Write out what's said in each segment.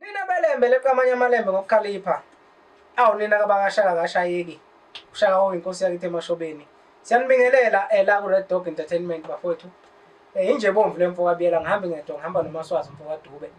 Nina belembe leqa amanye amalembe ngokukhalipha. Awu nina kabakashaka kashayeki. Ushaka oyinkosi yakithi emashobeni. Siyanibingelela ela eh, ku Red Dog Entertainment bafowethu. Eh inje bomvu lemfo kabiyela ngihambe ngedwa ngihamba nomaswazi mfo kaDube.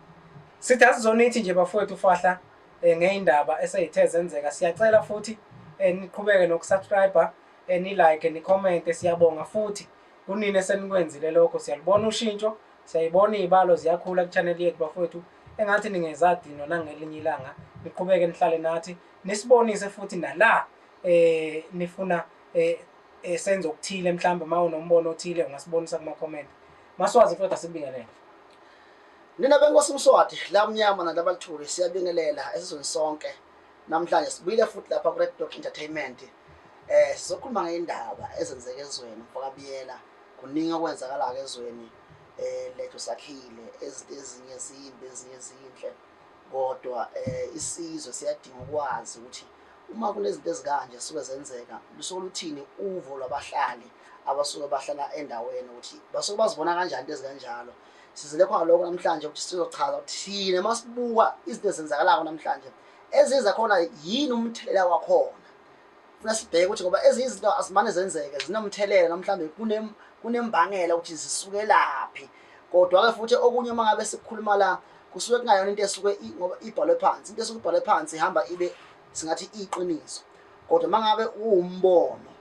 Sithi asizonithi nje bafowethu fahla eh ngeindaba eseyithe zenzeka. Siyacela futhi eh niqhubeke nokusubscribe, eh ni like, ni comment siyabonga futhi kunini esenikwenzile lokho siyalibona ushintsho Siyayibona iy'balo ziyakhula kuchaneli yethu bafowethu engathi ningezadinwa nangelinye ilanga niqhubeke nihlale nathi nisibonise futhi nala eh nifuna eh, eh senze okuthile mhlawumbe uma unombono othile ungasibonisa kuma-comment maswazi futhi asibingelele nina benkosi mswati lamnyama nalabalithuli siyabingelela esizweni sonke namhlanje sibuyile futhi lapha ku-red dog entertainment eh sizokhuluma ngey'ndaba ezenzeke ezweni mfokabiyela Kuningi okwenzakalayo ezweni um lethu sakhile ezinto ezinye zimbi ezinye zinhle kodwa um isizwe siyadinga ukwazi ukuthi uma kunezinto ezikanje zisuke zenzeka lusuke luthini uvo lwabahlali abasuke bahlala endaweni ukuthi basuke bazibona kanjani into ezikanjalo sizile khona lokho namhlanje ukuthi sizochaza ukuthi thina uma sibuka izinto ezenzakalako namhlanje eziza khona yini umthelela wakhona funa sibheke ukuthi ngoba ezinye izinto azimane zenzeke zinomthelela noma mhlawumbe kune kunembangela ukuthi zisukelaphi kodwa-ke futhi okunye uma ngabe sikukhuluma la kusuke kungayona into esuke ngoba ibhalwe phansi into esuke ibhalwe phansi ihamba ibe singathi iqiniso kodwa uma ngabe uwumbono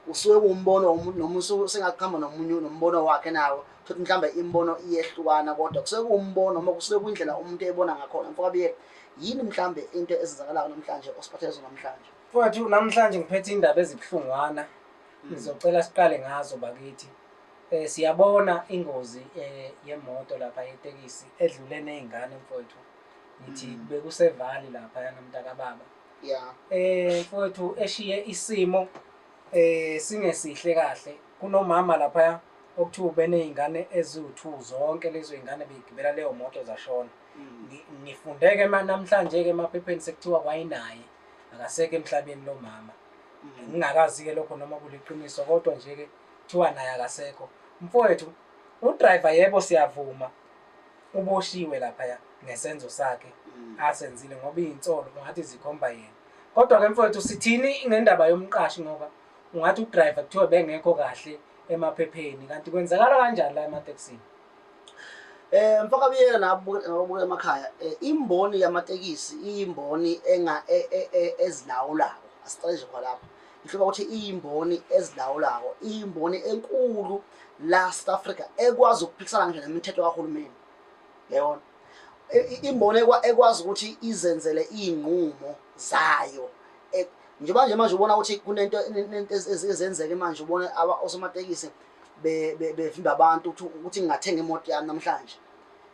Usuke kuwumbono womuntu noma usuke sengakuhamba nomunye nombono wakhe nawo futhi mhlawumbe imibono iyehlukana kodwa kusuke kuwumbono noma kusuke kwindlela umuntu ebona ngakhona mfokabiyela yini mhlawumbe into ezenzakalayo namhlanje osiphathele zona namhlanje mfowethu namhlanje ngiphethe indaba ezibuhlungwana hmm. ngizocela siqale ngazo bakithi um siyabona ingozi um yemoto lapha yetekisi edlule ney'ngane mfowethu ngithi hmm. bekusevali laphayana mntakababa yeah eh mfowethu eshiye isimo eh singesihle kahle kunomama lapha okuthiwa ubenezingane eziwu2 zonke lezo izingane begibela leyo moto zashona mm. ngifundeke manje namhlanje ke emaphepheni sekuthiwa kwayinaye akaseke emhlabeni lo mama mm. ngingakazi ke lokho noma kuliqiniso kodwa nje ke kuthiwa naye akasekho mfowethu udriver yebo siyavuma Uboshiwe laphaya ngesenzo sakhe asenzile ngoba izinsolo ungathi zikhomba yena. Kodwa ke mfowethu sithini ngendaba yomqashi ngoba ungathi udriver kuthiwa bengekho kahle emaphepheni kanti kwenzakala kanjani la ematekisini? Eh mfoka biyela nabubuka emakhaya eh, imboni yamatekisi iyimboni enga e, e, e, ezilawulayo asiqale nje kwalapha Ngihloba ukuthi iyimboni ezilawulako, iyimboni enkulu la South Africa ekwazi ukuphikisana ngisho nemithetho kahulumeni. Yabona? Imboni ekwazi ukuthi izenzele izinqumo zayo. E, njengoba nje manje ubona ukuthi kunento ezenzeke manje ubona osomatekisi bevimba abantu ukuthi ngingathenga imoto yami namhlanje.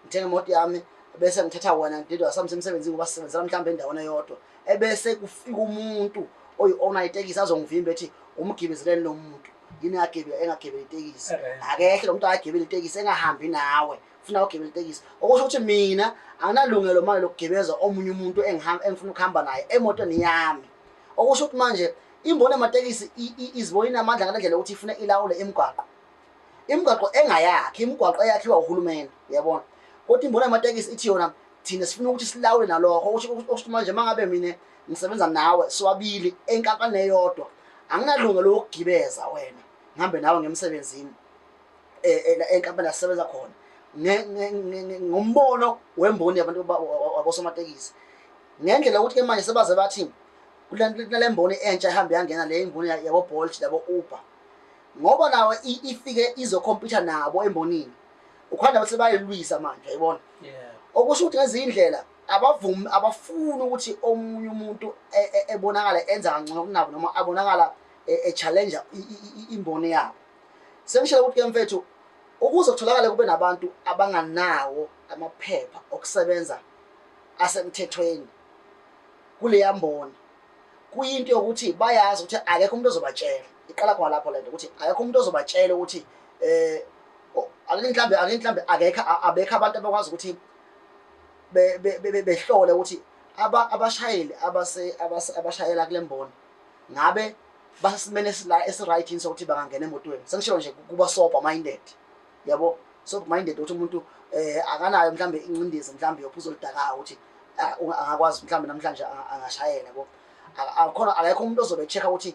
Ngithenga imoto yami bese ngithatha wena ngididwa sami semsebenzini ngoba sisebenzela mhlawumbe endaweni eyodwa. ebese kufika umuntu oyi-owner itekisi azongivimba ethi umgibezeleni lo muntu yini agebela engagebela itekisi akehle lo muntu akagebela itekisi engahambi nawe funa ugebela itekisi okusho ukuthi mina anginalungelo manje lokugebeza omunye umuntu engifuna ukuhamba naye emotweni yami okusho ukuthi manje imboni yamatekisi izibona inamandla ngale ndlela yokuthi ifuna ilawule imigwaqo imigwaqo engayakhi imigwaqo eyakhiwa uhulumeni uyabona kodwa imboni yamatekisi ithi yona thina sifuna ukuthi silawule nalokho okusho manje uma ngabe mina ngisebenza nawe siwabili enkampani eyodwa anginalunga lokugibeza wena ngihambe nawe ngemsebenzini e, e, enkampani asisebenza khona ngombono wemboni yabantu wabosomatekisi ngendlela ukuthi ke manje sebaze bathi kulentemboni entsha ihambe yangena le imboni yabo Bolt yabo Uber ngoba nawe ifike izokhompyutha nabo embonini ukhanda bese bayelwisa manje yayibona okusho ukuthi ngezinye indlela abavumi abafuni ukuthi omunye umuntu e, e, ebonakala enza kangcono kunabo noma abonakala e, echallenge imboni yabo sengishela ukuthi ke mfethu ukuze kutholakale kube nabantu abanganawo amaphepha okusebenza asemthethweni kuleya mboni kuyinto yokuthi bayazi ukuthi akekho umuntu ozobatshela iqala khona lapho lento ukuthi akekho umuntu ozobatshela ukuthi eh akinhlambe akinhlambe akekho abekho abantu abakwazi ukuthi behlole ukuthi aba abashayeli abase abashayela kulemboni ngabe basesimene esila esiright yini sokuthi bangangena emotweni sengisho nje kuba sober minded yabo sober minded ukuthi umuntu eh akanayo mhlambe incindezi mhlambe yophuzo oludakayo ukuthi angakwazi mhlambe namhlanje angashayela yabo akhona akekho umuntu ozobe check ukuthi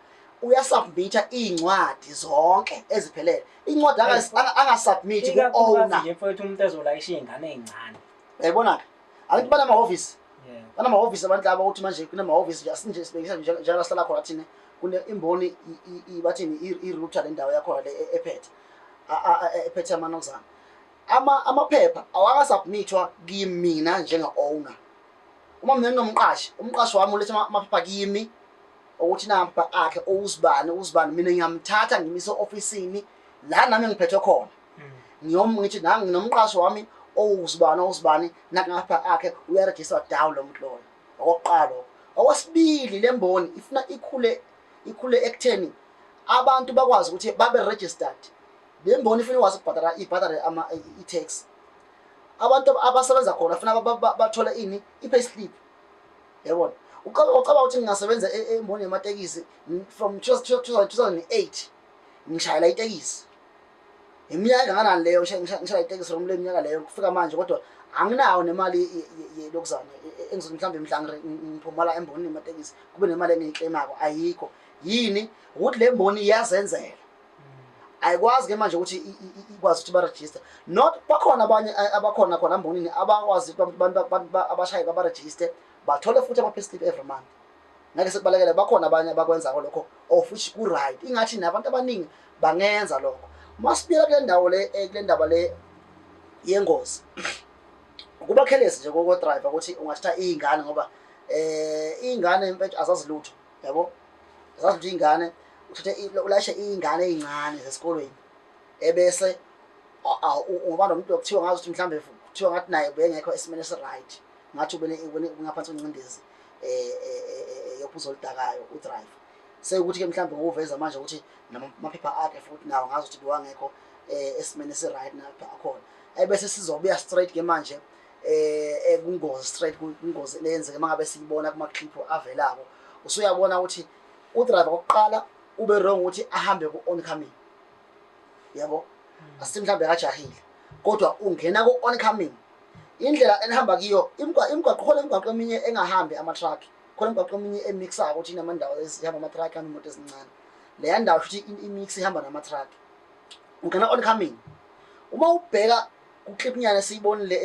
uyasubmitha iy'ncwadi zonke eziphelele incwadi angas- anga- angasubmithi ku-owner ikakhulukazi mfowethu umuntu ezolayisha iy'ngane ey'ncane yayibona-ke angithi banamahhovisi Yeah. banamahhovisi abantu laba ukuthi manje kunamahhovisi nje asinje sibekisa nje njengoba sihlala khona thina kune imboni i- i- i- bathini i- i-router lendawo yakhona le e- ephethe a- a- a- ephethe amanozana ama amaphepha awakasubmithwa kimina njenge-owner uma mina nginomqashi umqashi wami uletha ama- amaphepha kimi ukuthi nampa akhe owuzibani uzibani mina ngiyamthatha ngimise ofisini la nami ngiphethwe khona mm. ngiyom ngithi nami nginomqashi wami owuzibani owuzibani nakapha akhe uyaregister down lo muntu loyo okokuqala okwesibili le mboni ifuna ikhule ikhule ekutheni abantu bakwazi ukuthi babe registered le mboni ifuna ikwazi ukubhadala ibhadale i-tax abantu abasebenza khona funa bathole ini i-pay slip yabona ucabanga ucabanga ukuthi ngingasebenza e- e- emboni yamatekisi n- from 2008 ngishayela itekisi iminyaka engakanani leyo ngisha- ngisha- ngishayela itekisi from le minyaka leyo kufika manje kodwa anginawo nemali ye- ye- ye- yokuzana e- e- engizothi mhlawumbe mhla ngire- ng- ngiphumala embonini yamatekisi kube nemali engiyikleyimako ayikho yini ukuthi le mboni iyazenzela ayikwazi ke manje ukuthi ikwazi ukuthi barejiste not bakhona abanye abakhona khona mbonini abakwazi abantu abashaye babarejiste bathole futhi ama-payslip every month ngeke sekubalekele bakhona abanye abakwenzako lokho of oh, which ku-right ingathi nabantu abaningi bangenza lokho uma sibuyela kule ndawo le eh, kule ndaba le yengozi kuba careless nje kokodriver ukuthi ungathatha iy'ngane ngoba um iy'ngane mfethu azazilutho yabo zazi ukuthi ingane uthathe ulayishe iy'ngane ey'ncane zesikolweni ebese ngoba nomuntu okuthiwa ngazi ukuthi mhlawumbe kuthiwa ngathi naye bengekho esimeni esi-right ngathi ubengaphansi kwencindezi um eh, eh, eh, yophuzo oludakayo udrive sekuthi-ke mhlawumbe ngokuveza manje ukuthi namaphepha akhe futhi nawo ngazi ukuthi bewangekho um esimeni esi-right namaphepha akhona ebese sizobuya straight-ke manje eh ekungozi straight kungozi leyenzeke mangabe siyibona kuma clip avelako usuyabona ukuthi u driver oqala ube wrong ukuthi ahambe ku oncoming yabo hmm. asithi mhlambe akajahile kodwa ungena ku oncoming indlela enihamba kiyo imgwa imgwaqo khona imgwaqo eminye engahambi ama truck khona imgwaqo eminye emixayo ukuthi inamandawo ezihamba ama truck kanye imoto ezincane leya ndawo futhi imix ihamba nama truck ungena oncoming uma ubheka kuklipnyana esiyibonile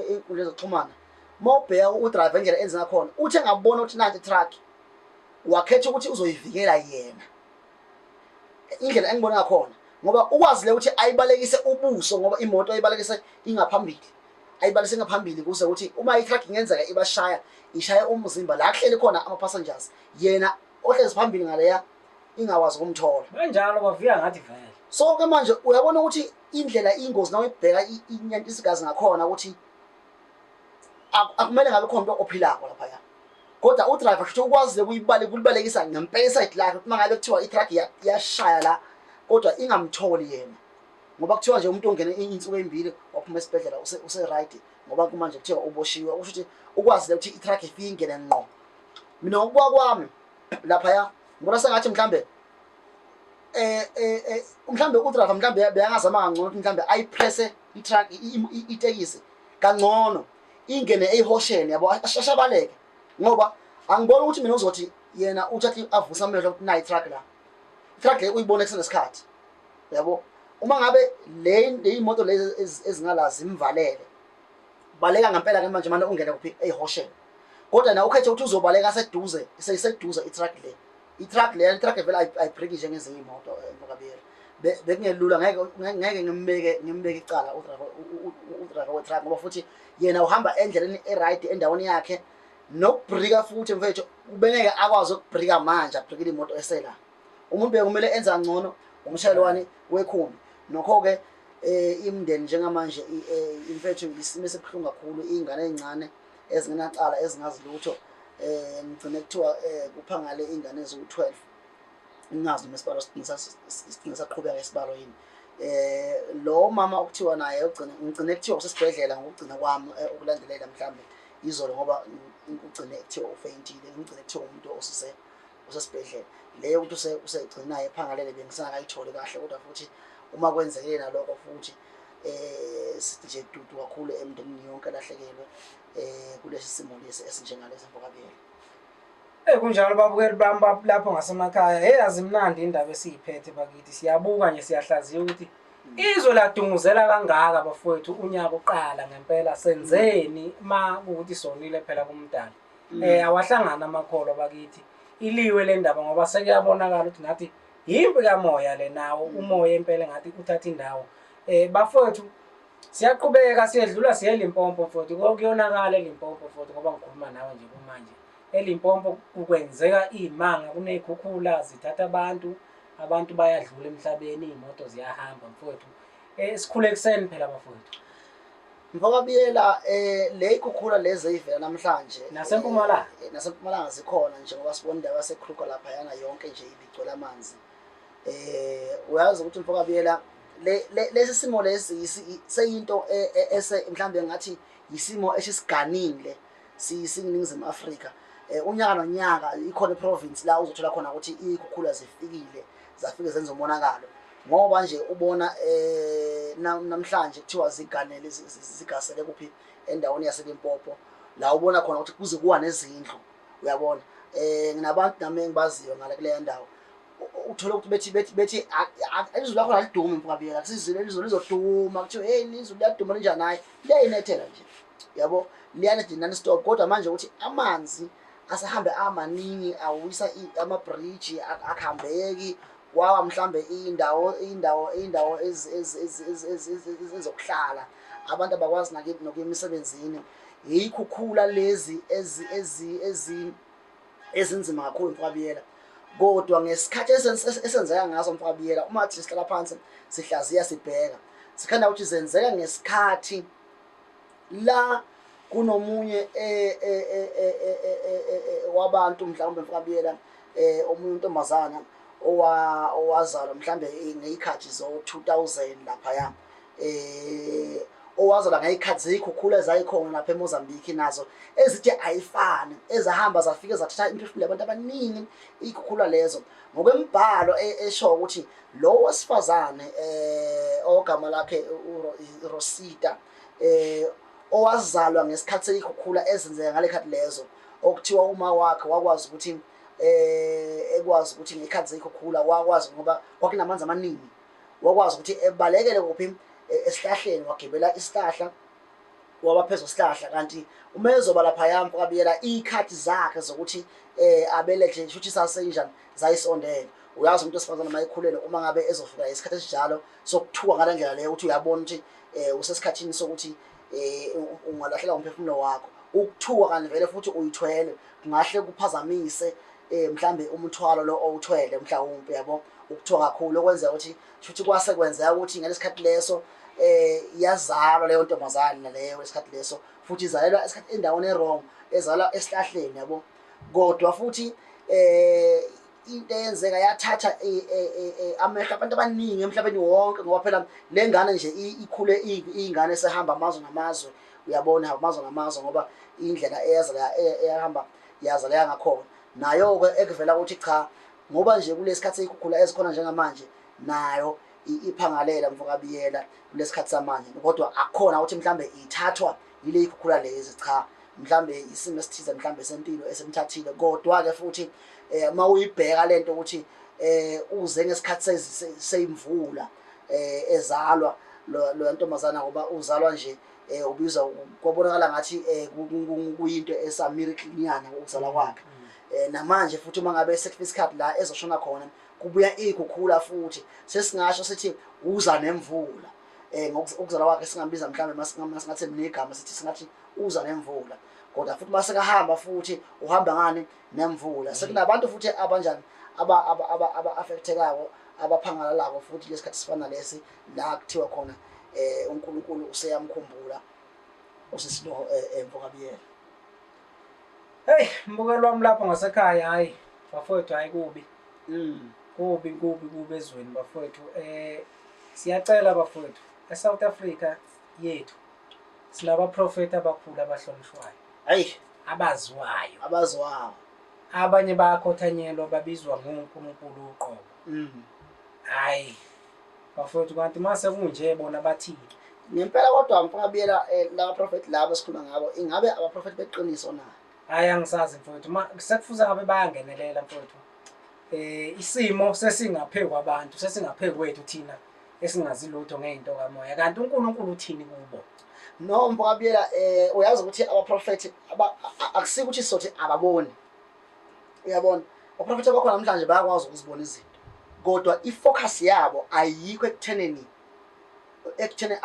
ey'nkundla zokuxhumana uma ubheka udrayiva indlela enze ngakhona uthi engabona ukuthi nanti itruck wakhetha ukuthi uzoyivikela yena indlela engibona ngakhona ngoba ukwazi le ukuthi ayibalekise ubuso ngoba imoto ayibalekise ingaphambili ayibalise ngaphambili kuze ukuthi uma itruck ingenzeka ibashaya ishaya umzimba la kuhleli khona ama-passengers yena ohlezi phambili ngaleya ingakwazi ukumthola kanjalo bavuya ngathi vele so ke manje uyabona ukuthi indlela ingozi na uyibheka inyanta isigazi ngakhona ukuthi akumele ngabe khona into ophilako lapha ya kodwa udriver futhi ukwazile kuyibale kulibalekisa ngempela isayidi lakhe uma ngabe kuthiwa itruck yashaya la kodwa ingamtholi yena ngoba kuthiwa nje umuntu ongene insuku ezimbili waphuma esibhedlela use use right ngoba kumanje kuthiwa uboshiwe usho ukuthi ukwazile ukuthi itruck ifike ingene ngqo mina ukuba kwami laphaya ngibona sengathi mhlambe eh eh, eh mhlambe udrava mhlambe beyangazama kangcono ukuthi mhlambe ayipresse itruck itekisi kangcono ingene eyihosheni yabo ashashabaleke ngoba angiboni ukuthi mina uzothi yena uthathe avusa amehlo ukuthi nayi truck la truck le uyibona kusenesikhathi yabo uma ngabe le leyimoto lezi ezingala zimvalele baleka ngempela ke manje manje ungena kuphi ehosheni kodwa na ukhethe ukuthi uzobaleka seduze seyiseduze itruck le itruck le itruck vele ayibreak nje ngezinye imoto emphakabiyela eh, bekungelula ngeke ngeke ngimbeke ngimbeke icala udriver udriver wetruck ngoba futhi yena uhamba endleleni eright endaweni yakhe nokubrika futhi mfethu ubengeke akwazi ukubrika manje abrikile imoto esela umuntu bekumele enza ngcono umshayelwani wekhumbi nokho ke Eh, imndeni njengamanje eh, imfethu isimo esibuhlungu kakhulu iy'ngane ey'ncane ezingenacala ezingazi lutho um ngigcine kuthiwa um kuphangale iy'ngane eziwu-twelve ngingazi noma isibalo sigcine saqhubeka isibalo yini um lo mama okuthiwa naye ngigcine kuthiwa usesibhedlela ngokugcina kwami ukulandelela mhlawumbe izolo ngoba kugcine kuthiwa ufeyintile ngigcine kuthiwa umuntu osise usesibhedlela le yokuthi use- usegcinayo ephangalele bengisakayitholi kahle kodwa futhi uma kwenzekile nalokho futhi eh sidije dudu kakhulu emndenini yonke lahlekelwe eh kulesi simo lesi esinjengalesi mfokabiyela Eh kunjalo babukeli bami bab- lapho ngasemakhaya. Hey azimnandi indaba esiyiphethe bakithi. Siyabuka nje siyahlaziya ukuthi izwe ladunguzela kangaka bafowethu unyaka uqala ngempela senzeni ma ukuthi sonile phela kumdala. um awahlangani amakholwa bakithi iliwe le ndaba ngoba sekuyabonakala ukuthi ngathi yimpi kamoya le nawo mm. umoya impela ngathi uthatha indawo um bafowethu siyaqhubeka siyedlula siye elimpompo futhi kuyonakala elimpompo futhi ngoba ngikhuluma nawe nje kumanje elimpompo kukwenzeka iy'manga kuney'khukhula zithatha abantu abantu bayadlula emhlabeni iy'moto ziyahamba mfowethu um sikhule ekuseni phela bafowethu Mfama Biyela eh le ikhukhula lezi ezivela namhlanje nasempumalanga eh, eh, nasempumalanga zikhona nje ngoba sibona indawo yaseKruger lapha yana yonke nje ibigcwele amanzi eh uyazi ukuthi mfama Biyela lesi simo lesi seyinto e, e, ese mhlambe ngathi yisimo esisiganile siyisinginingizimu Afrika eh, unyaka nonyaka ikhona iprovince la uzothola khona ukuthi ikhukhula zifikile zafike zenza umonakalo ngoba nje ubona eh namhlanje kuthiwa ziganele zigasele kuphi endaweni yaselimpopo la ubona khona ukuthi kuze kuwa nezindlu uyabona eh nginabantu nami engibaziyo ngale kuleya ndawo uthole ukuthi bethi bethi bethi izulu lakho lalidumi mfukabiyela kusizile izulu lizoduma kuthiwa hey izulu liyaduma linjani hayi liyayinethela nje yabo liyanethela nani stop kodwa manje ukuthi amanzi asehambe amaningi awisa ama-bridge akuhambeki kwawa mhlambe indawo indawo indawo ezokuhlala abantu abakwazi nakithi nokuya emisebenzini yikhukhula lezi ezi ezi ezi ezinzima kakhulu mfabiyela kodwa ngesikhathi esenzeka ngaso mfabiyela uma thi sihlala phansi sihlaziya sibheka sikhanda ukuthi zenzeka ngesikhathi la kunomunye eh, eh, eh, wabantu mhlawumbe mfakabiyela eh omunye untombazana owazalwa mhlambe ngeyikhathi zo 2000 lapha ya eh owazalwa ngeyikhathi zeyikhukhula ezayikhona lapha eMozambique nazo ezithe ayifani ezahamba zafike zathatha imphefumulo yabantu abaningi ikhukhula lezo ngokwembhalo e, esho ukuthi lo wesifazane eh ogama lakhe uRosita eh owazalwa ngesikhathi seyikhukhula ezenzeka ngale khathi lezo okuthiwa uma wakhe wakwazi ukuthi eh ekwazi ukuthi ngekhathi seyikhukhula wakwazi ngoba kwakunamanzi amaningi wakwazi ukuthi ebalekele kuphi e, esihlahleni wagibela isihlahla waba phezu kwesihlahla kanti uma ezoba lapha yami kwabiyela ikhathi zakhe zokuthi eh abelethe shuthi sasenjani zayisondela uyazi umuntu osifazana mayikhulele uma ngabe ezofika isikhathi esinjalo sokuthuka ngale ndlela leyo ukuthi uyabona ukuthi um usesikhathini sokuthi um ungalahlela umphefumulo wakho ukuthuka kanti vele futhi uyithwele kungahle kuphazamise um mhlawumbe umthwalo lo owuthwele mhlawumpe yabo ukuthiwa kakhulu okwenzeka ukuthi shuthi kwase kwenzeka ukuthi ngale sikhathi leso eh iyazalwa leyo ntombazane naleyo esikhathi leso futhi izalelwa esikhathi endaweni erong ezalwa esihlahleni yabo kodwa futhi eh into eyenzeka yathatha eh, eh, eh, amehlo abantu abaningi emhlabeni wonke ngoba phela le ngane nje ikhule iyingane esehamba amazwe ngamazwe uyabona hamba amazwe ngamazwe ngoba indlela eyazala eyahamba yazala yangakhona nayo-ke ekuvela ukuthi cha ngoba nje kulesi khathi eyikhukhula ezikhona njengamanje nayo iphangalela mfokabiyela kulesi khathi samanje kodwa akukhona ukuthi mhlawumbe ithathwa yile ikhukhula lezi cha mhlambe isimo esithize mhlambe sempilo esemthathile kodwa ke futhi eh uma uyibheka lento ukuthi eh uze ngesikhathi seyimvula eh ezalwa lo ntombazana ngoba uzalwa nje eh ubiza kwabonakala ngathi eh kuyinto esa miracle nyana ukuzala kwakhe mm. eh namanje futhi uma ngabe sekufika isikhathi la ezoshona khona kubuya ikhukhula futhi sesingasho sithi uza nemvula eh ngokuzalwa kwakhe singambiza mhlawumbe masingathe mina igama sithi singathi uza nemvula kodwa futhi mase kahamba futhi uhamba ngani nemvula mm. sekunabantu futhi abanjani aba aba aba aba affectekayo abaphangalalako futhi lesikhathi sifana lesi la kuthiwa khona eh uNkulunkulu useyamkhumbula usisiloho eh, emvokabiyela Hey mbukelo wami lapho ngasekhaya hayi bafowethu hayi kubi. Mm. Kubi kubi kubi ezweni bafowethu eh siyacela bafowethu eSouth Africa yethu silaba prophet abakhulu abahlonishwayo. Hayi abaziwayo. Abaziwayo. Abanye bayakhothanyelwa babizwa ngoNkulunkulu uqobo. Mm. Hayi. Bafowethu kanti mase kunje bona bathini? Ngempela kodwa mfakabiyela eh, laba prophet laba sikhuluma ngabo ingabe abaprofet beqiniso na? Hayi angisazi mfowethu ma sekufuze ngabe bayangenelela mfowethu. Eh isimo sesingaphe kwabantu sesingaphe kwethu thina esingazi lutho ngeinto kamoya kanti uNkulunkulu uthini kubo. No mfakabiyela eh uyazi ukuthi abaprofet akusikuthi sothi ababoni. uyabona oprofetha bakho namhlanje bayakwazi ukuzibona izinto kodwa i-focus yabo ayikho ekutheneni ekutheni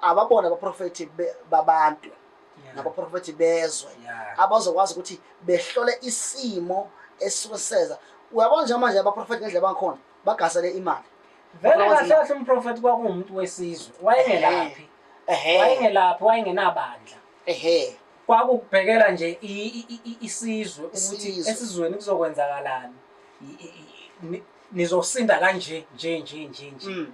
ababona abaprofethi babantu nabaprofethi bezwe abazokwazi ukuthi behlole isimo esuke siseza uyabona njengamanje abaprofethi ngendlela bangikhona bagasele imali vele kahle kahle umprofethi kwakuwumuntu wesizwe wayengelaphi wayengelaphi wayengenabandla ehe kwakukubhekela nje i- i- i- i- isizwe ukuthi Isizwe. esizweni kuzokwenzakalani I- i- i- ni- nizosinda kanje nje nje nje nje Mm.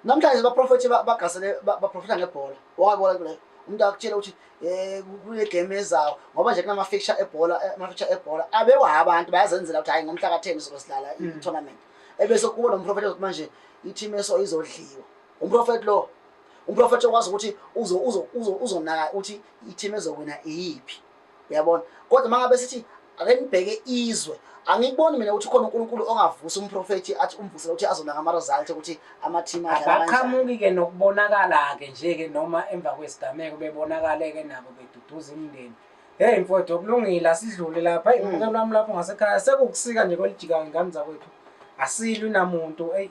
namhlanje abaprofethi ba- bagasele ba- baprofetha ngebhola wakabona kule umuntu akutshela ukuthi eh kule game ezayo ngoba nje kunama fixture ebhola eh, ama fixture ebhola abekwa abantu bayazenzela ukuthi hayi ngomhla ka 10 sizosidlala Mm. i tournament ebese kubo nomprofethi ukuthi manje i team eso izodliwa Umprofethi lo. Umprofethi okwazi ukuthi uzo uzo uzo uzonaka ukuthi i-team ezokwena iyiphi. Uyabona? Kodwa mangabe sithi ake nibheke izwe angikuboni mina ukuthi khona uNkulunkulu ongavusa umprofethi athi umvusela ukuthi azona ngama result ukuthi ama team adlala abaqhamuki ke nokubonakala ke nje ke noma emva kwesigameko bebonakale ke nabo beduduza imindeni hey mfowethu okulungile asidlule lapha hey ngeke mm. lwami lapho ngasekhaya sekukusika nje kwelijikayo ingane zakwethu asilwi namuntu hey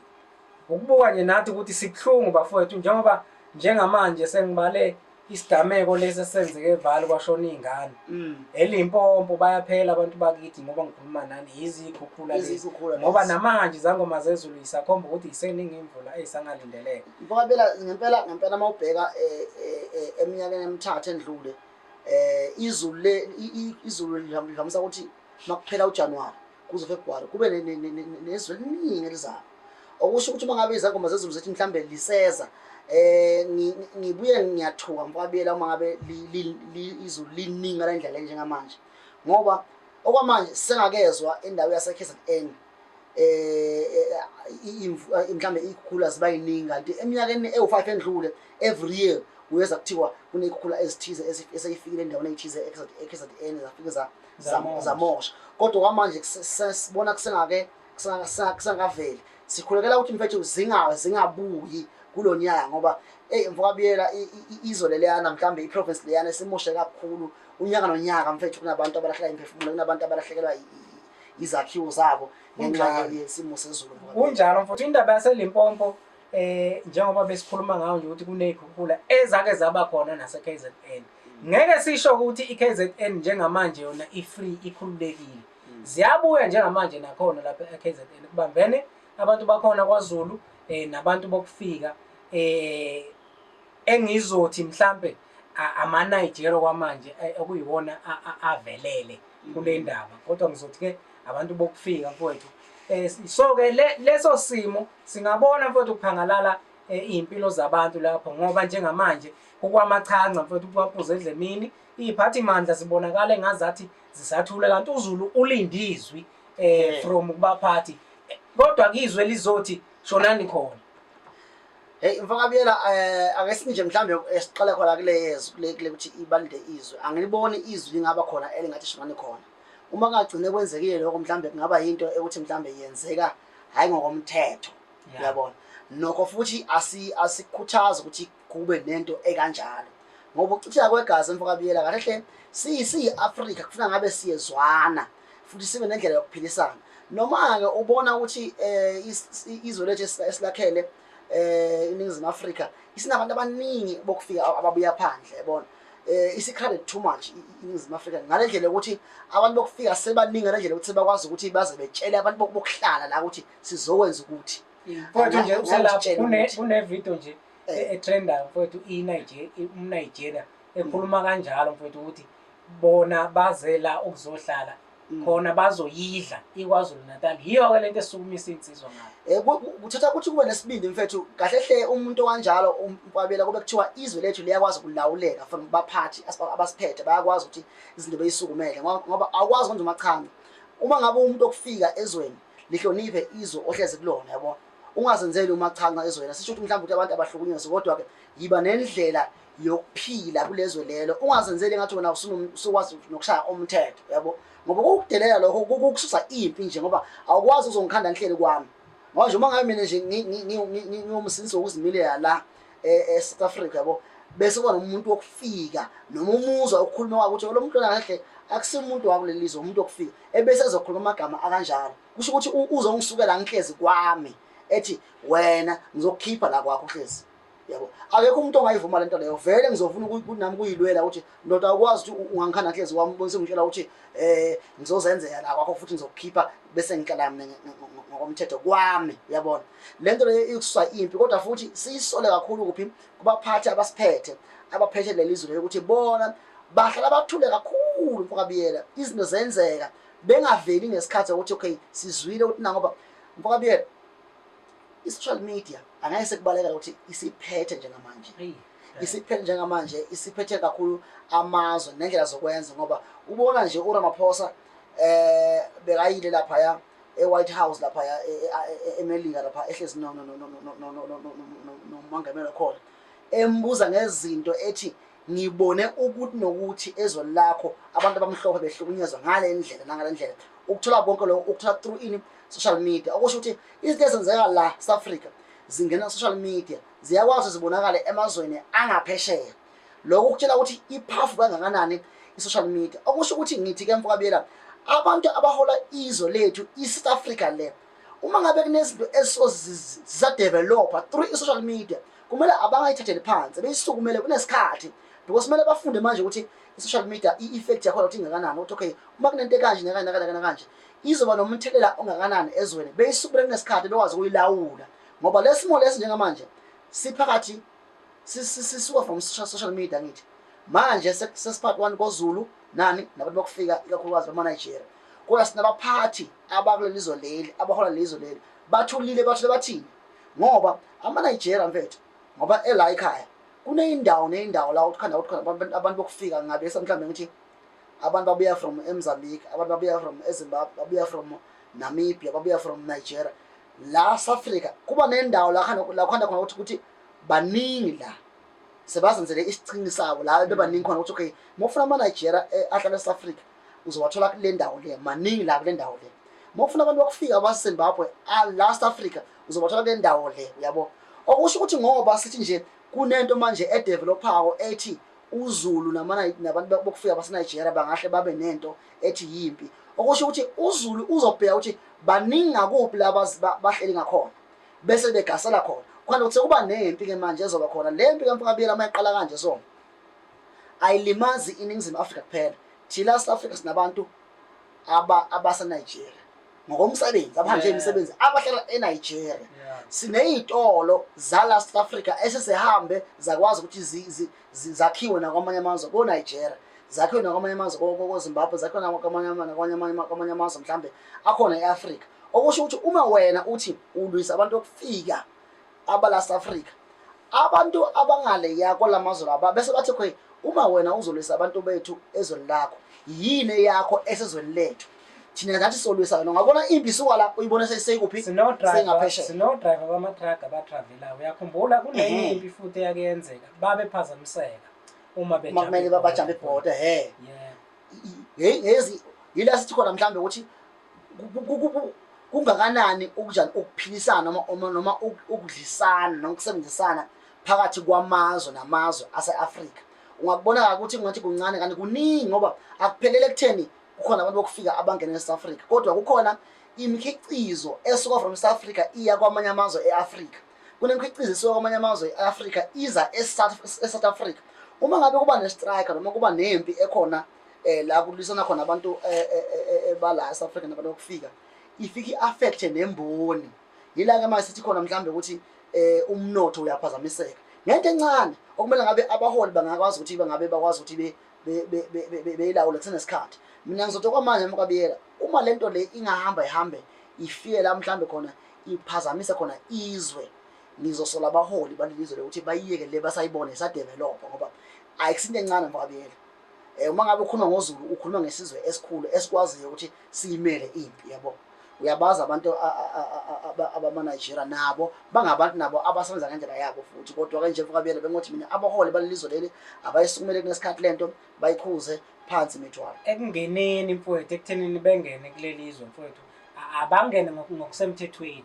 Ukubuka nje nathi ukuthi sibuhlungu bafowethu njengoba njengamanje sengibale isigameko lesi esenzeke evali kwashona iy'ngane mm. elimpompo bayaphela abantu bakithi ngoba ngikhuluma nani yizikhukhula lezi ngoba namanje izangoma zezulu yisakhomba ukuthi yiseningi imvula eyisangalindeleka mfokabela ngempela ngempela uma ubheka eh, eh, eh, eminyakeni emithathu endlule um izulu izulu lihamisa ukuthi makuphela uJanuary kuze February kube nezwe eliningi elizayo okusho ukuthi uma ngabe izangoma zezulu zethi mhlambe liseza eh ngibuye ngiyathuka mfabiyela uma ngabe izulu liningi la indlela njengamanje ngoba okwamanje sengakezwa indawo yaseKZN um mhlawumbe iy'khukhula ziba yiningi kanti eminyakeni ewu-five endlule every year kuyeza kuthiwa kuney'khukhula ezithize eseyifikile endaweni eyithize e-k z n zafike zamosha kodwa kwamanje sibona kusengake kusangaveli sikhulekela ukuthi mfethu zingawe zingabuyi kulo nyaka ngoba eyi mfokabiyela izwe leleyana mhlawumbe iprovince leyana esimoshe kakhulu unyaka nonyaka mfethu kunabantu abalahleka imiphefumulo kunabantu abalahlekelwa izakhiwo zabo ngenxa yesimo sezulu kunjalo mfowethu indaba yaselimpompo eh njengoba besikhuluma ngayo nje ukuthi kunezikhukhula ezake zaba khona nase KZN ngeke sisho ukuthi iKZN njengamanje yona ifree ikhululekile hmm. ziyabuya njengamanje nakhona lapha eKZN kubambene abantu bakhona kwaZulu eh nabantu bokufika eh engizothi mhlambe ama-Nigeria kwamanje eh, okuyiwona avelele kule ndaba kodwa ngizothi-ke abantu bokufika mfowethu eh, so-ke leso simo singabona mfowethu ukuphangalala eh, iy'mpilo zabantu lapho ngoba njengamanje kukwamachanca mfowethu kuwapuza edlemini iy'phathimandla zibonakala engazathi zisathule kanti uzulu ulindizwi um from kubaphathi kodwa kizwe lizothi shonani khona Hey mfaka Biyela eh ake sinje mhlambe esiqale khona kule yezwi kule kule ukuthi ibalinde izwe. Angiliboni izwi lingaba khona elingathi shimane khona. Uma kungagcine kwenzekile lokho mhlambe kungaba into ekuthi mhlambe yenzeka hayi ngokomthetho. Uyabona? Nokho futhi asi asikhuthaza ukuthi kube nento ekanjalo. Ngoba ukuchitheka kwegazi mfaka Biyela kahle hle si si Africa kufuna ngabe siyezwana. futhi sibe nendlela yokuphilisana noma-ke ubona ukuthi um izwe lethu esilakhele um iningizimu afrika isinabantu abaningi bokufika ababuya phandle yabona um isi-crowded too much iningizimu afrika ngale ndlela yokuthi abantu bokufika sebaningi ngale ndlela yokuthi sebakwazi ukuthi baze betshele abantu bokuhlala la ukuthi sizokwenza ukuthi mfowethu nje usekunevito nje etrendayo mfowethu i-nigeria umnigeria ekhuluma kanjalo mfowethu ukuthi bona bazela ukuzohlala mm. khona bazoyidla ikwazulu natal yiyo-ke le nto esukumisa iy'nsizwa ngabo eh, kuthatha ukuthi kube nesibindi mfethu kahle hle umuntu owanjalo umkwabela kube kuthiwa izwe lethu liyakwazi ukulawuleka from baphathi abasiphethe bayakwazi ukuthi izinto beyisukumele ngoba awukwazi kwenza umachami uma ngabe umuntu okufika ezweni lihloniphe izwe ohlezi kulona yabo ungazenzeli umachanca ezweni sisho ukuthi mhlawumbe ukuthi abantu abahlukunyezwe kodwa-ke yiba nendlela yokuphila kulezwe lelo ungazenzeli ngathi wena usukwazi nokushaya umthetho yabo ngoba kukudelela lokho kukususa impi nje ngoba awukwazi uzongikhanda ngihleli kwami ngoba nje uma ngabe mina nje ngiwumsindisi wokuzimilela la e-south e africa yabo bese kuba nomuntu wokufika noma umuzwa ukukhuluma kwakho ukuthi lo mntwana kahle akusiyo umuntu wakuleli lizwe umuntu wokufika ebese ezokhuluma amagama akanjalo kusho ukuthi uzongisukela ngihlezi kwami ethi wena ngizokukhipha la kwakho uhlezi yabo akekho umuntu ongayivuma lento leyo vele ngizofuna ukuthi nami kuyilwela ukuthi ndoda ukwazi ukuthi ungangikhanda nhlezi wami ubonise ngitshela ukuthi eh ngizozenzela la kwakho futhi ngizokukhipha bese ngicela mina ngokomthetho kwami uyabona lento leyo ikususa impi kodwa futhi siyisole kakhulu kuphi kubaphathi abasiphethe abaphethe lelizwe leyo ukuthi bona bahlala bathule kakhulu mfokabiyela izinto zenzeka bengaveli ngesikhathi ukuthi okay sizwile ukuthi nangoba mfokabiyela I-social media angeke sekubalekela ukuthi isiphethe njengamanje isiphethe njengamanje isiphethe kakhulu amazwe nendlela zokwenza ngoba ubona nje uramaphosa eh bekayile laphaya e-white house laphaya emelika lapha ehlezi nomangamela khona embuza ngezinto ethi ngibone ukuthi nokuthi ezweni lakho abantu abamhlophe behlukunyezwa ngale ndlela nangale ndlela ukuthola konke lokho ukuthola through ini social media okusho ukuthi izinto ezenzeka la South Africa zingena social media ziyakwazi zibonakale emazweni angaphesheya lokho kutshela ukuthi iphafu kangakanani i-social media okusho ukuthi ngithi ke mfokabiyela abantu abahola izwe lethu i-south africa le uma ngabe kunezinto ezisadevelopha through i-social media kumele abangayithatheli phansi beyisukumele kunesikhathi because kumele bafunde manje ukuthi i-social media i-effect yakhona ukuthi ingakanani ukuthi okay uma kunento ekanje nakanje nakanje nakanje izoba nomthelela ongakanani ezweni beyisukule kunesikhathi bekwazi ukuyilawula ngoba lesimo lesi njengamanje siphakathi sisuka from social media ngithi manje sesiphathi one kozulu nani nabantu bakufika ikakhulukazi bamanigeria kodwa sinabaphathi abakuleli zwe leli abahola leli zwe leli bathulile bathule bathini ngoba amanigeria mfethu ngoba ela ekhaya kuneyindawo neyindawo la uthi khanda uthi khona abantu bokufika ngabe mhlawumbe ngithi abantu babuya from emzambique abantu babuya from ezimbabwe babuya from namibia babuya from nigeria la safrika kuba nendawo lakhanda khona ukuthi ukuthi baningi la sebazenzele isicingi sabo la bebaningi khona ukuthi okay uma ufuna amanigeria eh, ahlala esafrika uzowathola kule ndawo le maningi la kule ndawo le uma ufuna abantu bakufika basezimbabwe ah, la south africa uzobathola kule ndawo le uyabo okusho ukuthi ngoba sithi nje kunento manje edevelophawo ethi UZulu nabantu bokufika baseNigeria bangahle babe nento ethi yimpi okusho ukuthi uZulu uzobheka ukuthi baningi ngakuphi la bahleli ngakhona bese begasela khona khona ukuthi sekuba nempi-ke manje ezoba khona le mpi kamfakabiyela uma iqala kanje so ayilimazi iningizimu afrika kuphela thina south africa sinabantu aba abasa Nigeria ngokomsebenzi abahanje yeah. imisebenzi abahlala eNigeria yeah. sineyitolo zala South Africa esesihambe zakwazi ukuthi zi, zi, zakhiwe nakwamanye amazwe ko Nigeria zakhiwe nakwamanye amazwe ko Zimbabwe zakhiwe nakwamanye nakwamanye nakwamanye amazwe mhlambe akhona eAfrica okusho ukuthi uma wena uthi ulwisa abantu okufika abalast africa abantu abangaleya kolamazwe laba bese bathi khwe uma wena uzolwisa abantu bethu ezweni lakho yini eyakho esezweni lethu thina ngathi solwisa wena ungabona impi suka la uyibone seyikuphi sengaphesheya sinodriver bamatraga abatravelayo uyakhumbula kunenye eh. impi futhi eyakuyenzeka babephazamiseka uma bekumele babajambe ibhoda he yezi yila sithi khona mhlawumbe ukuthi kungakanani ukunjani ukuphilisana noma noma ukudlisana noma ukusebenzisana phakathi kwamazwe namazwe ase-afrika ungakubona-ke ukuthi kungathi kuncane kanti kuningi ngoba akuphelele ekutheni kukhona abantu bokufika abangena e-south africa kodwa kukhona imikhiqizo esuka from south africa iya kwamanye amazwe e-afrika kunemikhiqizo esuka kwamanye amazwe e-afrika iza e-south africa uma ngabe kuba ne-strike noma kuba nempi ekhona eh la kulwisana khona abantu eh, eh, eh, bala South Africa nabantu okufika ifike affect nemboni yila ke manje sithi khona mhlambe ukuthi eh umnotho uyaphazamiseka ngento encane okumele ngabe abaholi bangakwazi ukuthi bangabe bakwazi ukuthi be beyilawula kusenesikhathi mina ngizothi kwamanje mkabiyela uma lento le ingahamba ihambe ifike la mhlambe khona iphazamise khona izwe ngizosola abaholi balelizwe lokuthi bayiyeke le basayibone sadevelopha ngoba ayikusinto encane mkabiyela Eh uma ngabe ukhuluma ngoZulu ukhuluma ngesizwe esikhulu esikwaziyo ukuthi siyimele impi yabo. Uyabazi abantu abamaNigeria nabo bangabantu nabo abasebenza ngendlela yabo futhi kodwa ke nje mfokabiyela bengothi mina abaholi balelizwe leli abayisukumele kunesikhathi lento bayikhuze phansi imithwalo. Ekungeneni mfowethu ekuthenini bengene kulelizwe mfowethu abangene ngokusemthethweni.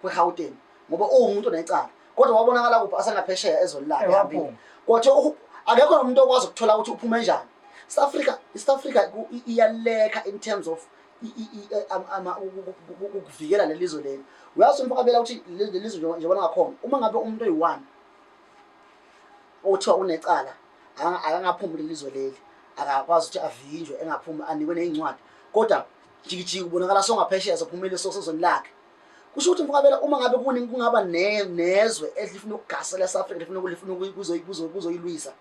kweGauteng ngoba uwumuntu onecala kodwa wabonakala kuphi asengaphesheya ezweni lakhe ehambile kwathiwa akekho nomuntu okwazi ukuthola ukuthi uphume njani south africa isouth africa iyaleka in terms of ukuvikela leli zwe leli uyazi umfakabela ukuthi leli zwe njengoba ngakhona uma ngabe umuntu oyi-one othiwa unecala akangaphumi kuleli zwe leli akakwazi ukuthi avinjwe engaphumi anikwe ney'ncwadi kodwa jikijiki ubonakala songaphesheya sophumile sosezweni lakhe kusho ukuthi mfokabela uma ngabe kuningi kungaba nezwe elifuna ukugasela south africa lifuna kulifuna ukuzoyilwisa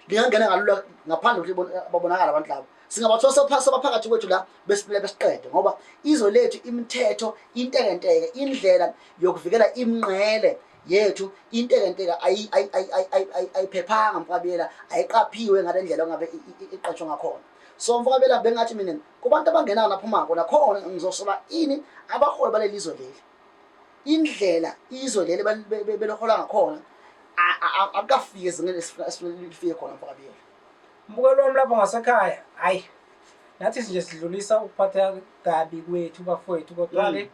lingangena kalula ngaphandle kokuthi babonakala abantu labo singabathola sebaphakathi kwethu la besiphile besiqede ngoba izwe lethu imithetho intekenteke indlela yokuvikela imnqele yethu intekenteke ayiphephanga mfokabela ayiqaphiwe ngale ndlela ongabe iqatshwa ngakhona so mfoka bela bengathi mina kubantu abangenayo naphumako nakhona ngizosola ini abaholi baleli izwe leli indlela izwe leli belohola ngakhona akukafiki ezingeni esifunelifike khona mfoka bela mbukelo wami lapho ngasekhaya hhayi nathi nje sidlulisa ukuphatha kabi kwethu bafowethu kodwa-ke mm.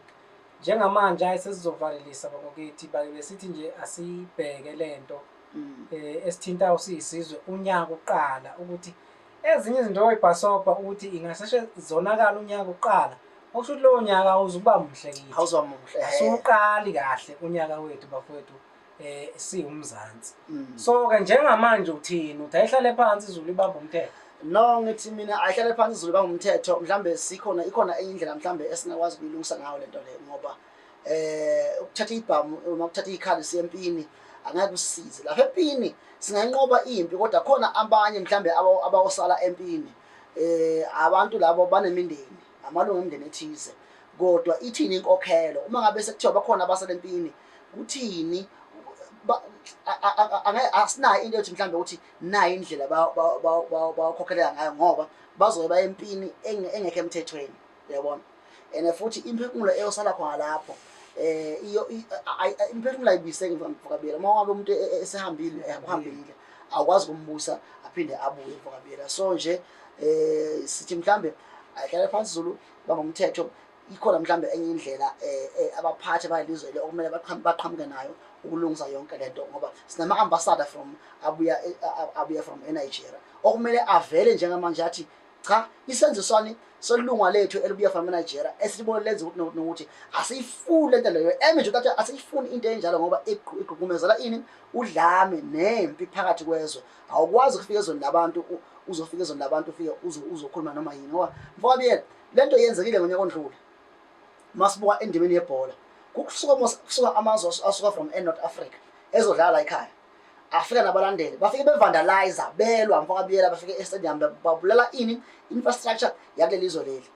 njengamanje ayi sesizovalelisa bakokithi bake besithi nje asiyibheke le nto um mm. eh, esithinta usiyisizwe unyaka uqala ukuthi Ezinye izinto oyibhasobha ukuthi ingaseshe zonakala unyaka kuqala okusho ukuthi lowo nyaka awuzukuba muhle kithi awuzoba muhle asiwuqali kahle unyaka wethu bafowethu eh siwumzansi mm. so ke njengamanje uthini uthi ayihlale phansi izulu ibamba umthetho no ngithi mina ayihlale phansi izulu ibamba umthetho mhlambe sikhona ikhona enye indlela mhlambe esingakwazi ukuyilungisa ngayo lento le ngoba eh ukuthatha ibhamu uma ukuthatha ikhali sempini angeke usize lapha empini singanqoba impi kodwa khona abanye mhlambe abawosala empini eh abantu labo banemindeni amalungu omndeni ethize kodwa ithini inkokhelo uma ngabe sekuthiwa bakhona abasala empini kuthini asinayo into yokuthi mhlawumbe ukuthi nayo indlela bawakhokhelela ngayo ngoba bazobe bayempini engekho emthethweni yabona and futhi imphefumulo eyosala khona lapho eh iyo imphefumulo ayibiseke mfokabiyela uma wabe umuntu e, e, esehambile eh, uhambile awukwazi kumbusa aphinde abuye mfokabiyela so nje eh sithi mhlambe ayihlale phansi Zulu bamba umthetho ikhona mhlambe enye indlela eh, eh abaphathi bayilizwe le okumele baqhamuke nayo ukulungisa yonke lento ngoba sinama ambassador from abuya eh, abuya from eNigeria okumele avele njengamanje athi cha isenzo sani solunga lethu elibuya from Nigeria esilibona lenza ukuthi nokuthi asiyifuni lento leyo eme nje ukuthi asiyifuni into enjalo ngoba igqugqumezela ini udlame nempi phakathi kwezwe awukwazi ukufika ezweni labantu uzofika ezweni labantu ufike uzokhuluma noma yini ngoba mfoka biyela lento yenzekile ngonyaka ondlule masibuka endimeni yebhola kusuka kusuka amazwe asuka from eNorth Africa ezodlala la ekhaya afika nabalandeli bafike bevandalize belwa mfokabiyela bafike estadium babulala ini infrastructure yakuleli izwe leli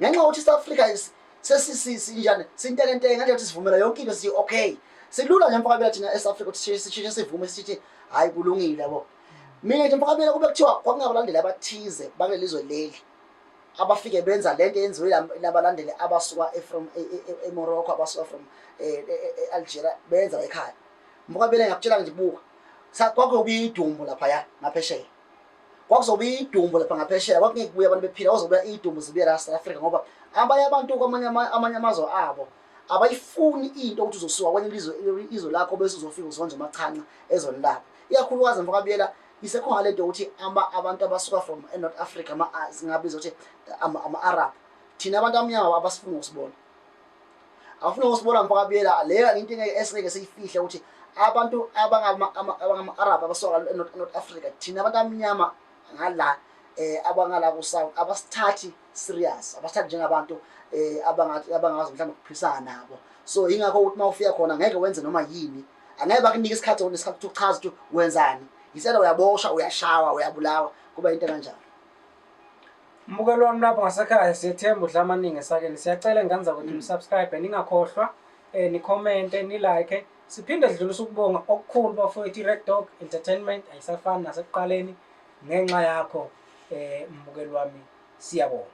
ngenxa yokuthi south africa sesisinjani sintekenteke nganje ukuthi sivumela yonke into sithi okay silula nje mfokabiyela thina esouth africa ukuthi sishintshe sivume sithi hhayi kulungile yabo mina nje mfokabiyela kube kuthiwa kwakungabalandeli abathize bakuleli izwe leli abafike benza lento yenziwe labalandeli abasuka e-, e-, e-, emorocco abasuka from eh, eh, eh, algeria benza ekhaya Mukabele ngiyakutshela nje buka. Kwakuyobe idumbu lapha ya ngaphesheya. Kwakuzobe idumbu lapha ngaphesheya kwakungeke kubuye abantu bephila kwazobe idumbu zibuye la South Africa ngoba abanye abantu kwamanye amanye amazwe abo abayifuni into ukuthi uzosuka kwenye ilizwe izwe lakho bese uzofika uzonje umachanca ezweni labo. Iyakhulukazi mfakabiyela isekhona lento ukuthi ama abantu abasuka from eNorth Africa ama singabiza ukuthi ama-Arab thina abantu amnyama abasifuni ukusibona awufuna ukusibona mfaka buyela leyo into ngeke esingeke siyifihle ukuthi abantu abangama-arab abasuka north africa thina abantu abamnyama ngala um abangala kusouth abasithathi serious abasithathi njengabantu um abangakwazi mhlawumbe ukuphisana nabo so yingakho ukuthi uma ufika khona ngeke wenze noma yini angeke bakunike isikhathi onesikhathi ukuthi uchaza ukuthi wenzani yisela uyaboshwa uyashawa uyabulawa kuba into kanjalo Mbukelo wami lapho ngasekhaya siyethemba udla amaningi esakeni. Siyacela ingane zakwethu nisubscribe ningakhohlwa eh nicommente nilike. Siphinde sidlulisa ukubonga okukhulu bafowethu iRed Dog Entertainment ayisafani nasekuqaleni ngenxa yakho eh mbukelo wami siyabonga.